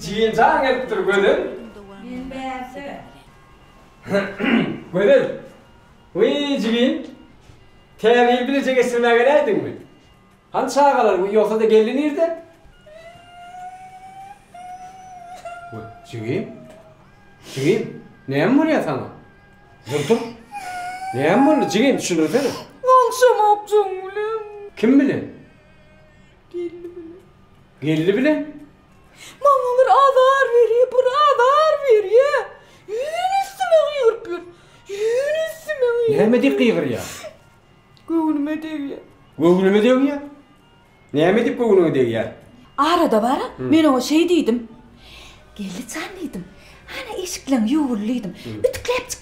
Jigim jaň gelipdir Gözel. Men bärde. Gözel. Wiý jigim. Täze ýyl birje geçirmä geläýdiňmi? Hany çagalar wiý ýogsa-da gelni nirde? Jigim. Jigim. Näme bolýar saňa? Dur dur. Näme boldy jigim düşündirsene. Bolşamok joň bilen. Kim bilen? Gelni bilen. Gelni bilen? Maňa bir azar berýär, bir azar berýär. Ýüzüni üstüme gygyryp ýör. Ýüzüni üstüme gygyryp. Näme diýip gygyrýar? Göwnüme degýär. Göwnüme degýär? Näme diýip göwnüňe degýär? Arada bar, men oňa şeý diýdim. Gelni jan diýdim. Hany eşikleň ýuwul diýdim. Ütikläp çyk.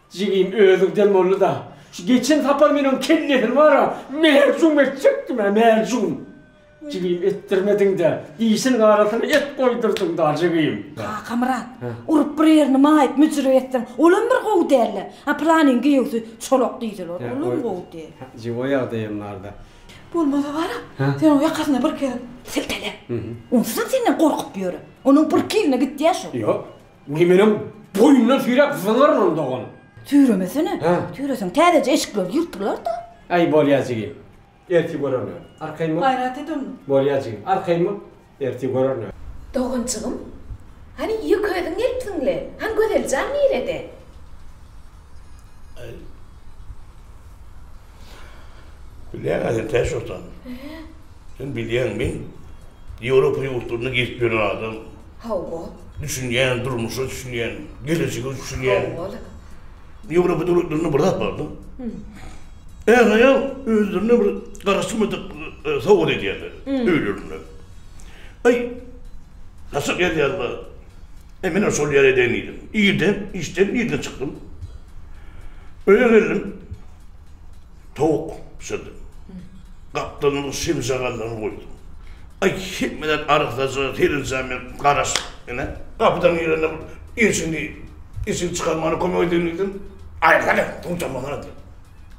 Jigim özüň dem boldy-da. Şu geçen sapar men oň kellesini bar-a, mäjum etjekdim-ä, mäjum. Jigim etdirmediň-dä, dişiniň arasyna et goýdurdyň-da, jigim. Kakamyrat, urup bir ýerini maýyp, müjürek etseň, olam bir gowy däl-le. A Pylanyň giýewsi Çolak diýseler, olam gowy däl. Jigim, o ýagdaýam bar-da. Bolmasa bar-a, sen oň ýakasyna bir gezek siltele. Onsuzam senden gorkup ýör. Onuň birki ýerine gitýä şu. Ýok. Ony menem boýundan süýräp zyňaryn dogan. Süýremesene. Süýreseň täzeje eşikleri ýyrtylarda. Aý bolýa jigim. Ertir görerler. Arkaýma. Gaýrat et onda. Bolýa jigim. Arkaýma. Ertir görerler. Doganjygym. Hany ýeke özüň gelipsiň-le. Han Gözeljan nirede? Bilýäň-ä sen täş atan. Sen bilýäň, men Ýewropa ýurtlaryna gezip ýören adam. Hawa. Düşünýän, durmuşa düşünýän, gelejege düşünýän. Hawa-la. Ýewropa döwletlerine bir zat bardym. Är-aýal özlerine bir garaşylmadyk sowgat edýärler öýlerinde. Aý, gaçak gelýärler. E, menä şol ýere deň iýdim. Irden, işden irden çykdym. Öýe geldim. Towuk bişirdim. Gapdalymyň şemşagallaryny goýdum. Aý, hemmeler arassa-ja, seredýän men garaşyp, ine, gapydan girende bir işiňi, işiňi çykarmana kömek edeliň diýdim. Aý, hany, suw çamasyna diýip.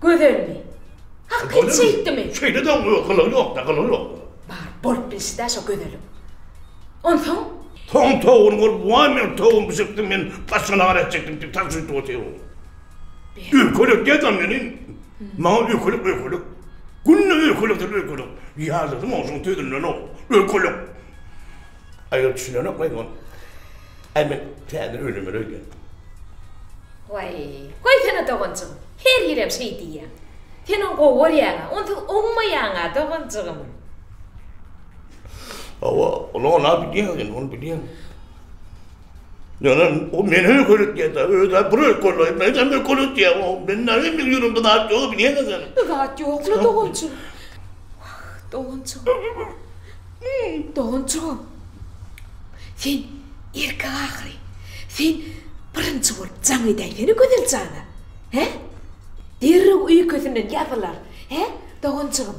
Gözelmi? Hak et şeýtdimi? Şeýle de oňa gylygy ýok-da, gylygy ýok. Bar, bolup bilişdi-ä şo gözeliň. Onsoň? Soň towuny bolup, Waý, men towuny bişiripdim, men başga nahar etjekdim diýip, tas öýdüp otyr ol. Öýkelek däl-dä meniň. Maňa öýkelek, öýkelek. Günde öýkelekdir öýkelek. Ýazyjym onuň sözünden-ow, öýkelek. Aýol düşünenok maý ol. Äý men täzeden öýlenmeli öýdýän. Waý, goýsana doganjygym, her ýerem şeý diýýäň. Sen ony gowy görýäň-ä, onsuz oňmaýaň-a doganjygym. Hawa, ony onam bilýän, ony bilýän. Ýöne o men öýkelek diýýär-dä, öýde bir öýkelek, men hem öýkelek diýýär. O men näme meniň ýüregimde zat ýok, bilýän sen ony. Bir zat ýok-la, doganjygym. Wah, doganjygym. Doganjygym, sen erkek ahyry. Sen birinji bolup jaň edäýsene Gözel jana. He? Derrew öýkesinden ýazylar. He, doganjygym?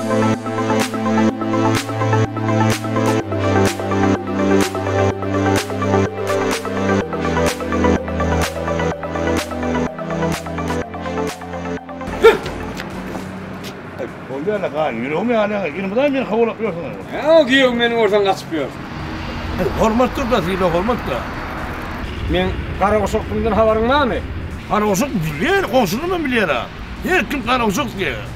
Bolýar-la gaýy, ýüregim ýanyň, ýylmyzam meni howlap ýörsüň. Ýa, giýew meni görseň gaçyp ýör. Hormat gör-da, syla hormat-da. Meň Garaguşakdygymdan habaryň barmy? Garaguşak bilýär, goňşularym hem bilýär-ä. Her kim Garaguşak diýýär.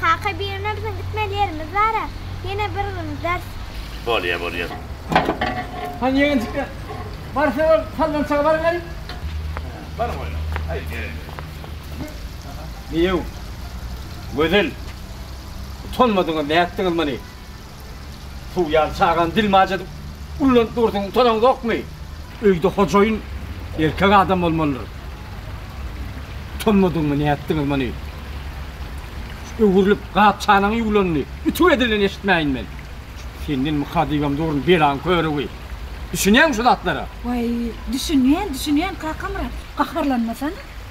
Kaka bir güne biziň gitmeli ýerimiz bara ýene bir gün giders. Bolýa bolýa. Hany ýegenjikler barsa ol sallançaga baryberiň. Baryň oýna. Haýt gerek ýok. Diýew. Gözel. Utanmadyňyz nätdiňiz muny. Suw ýaly çagany dilmaç edip, ullanyp dursuň, utanaňzokmy? Öýde hojaýyn erkek adam bolmalydyr. Utanmadyňmy, nätdiňiz muny? Şu öwrülip, gap-çanaň ýuwlanyny ütük edilen eşitmäýin men. Senden myka diýibem durun, belaň körügi. Düşünýäňmi şu zatlara? Waý, düşünýän, düşünýän, Kakamyrat, gaharlanmasana.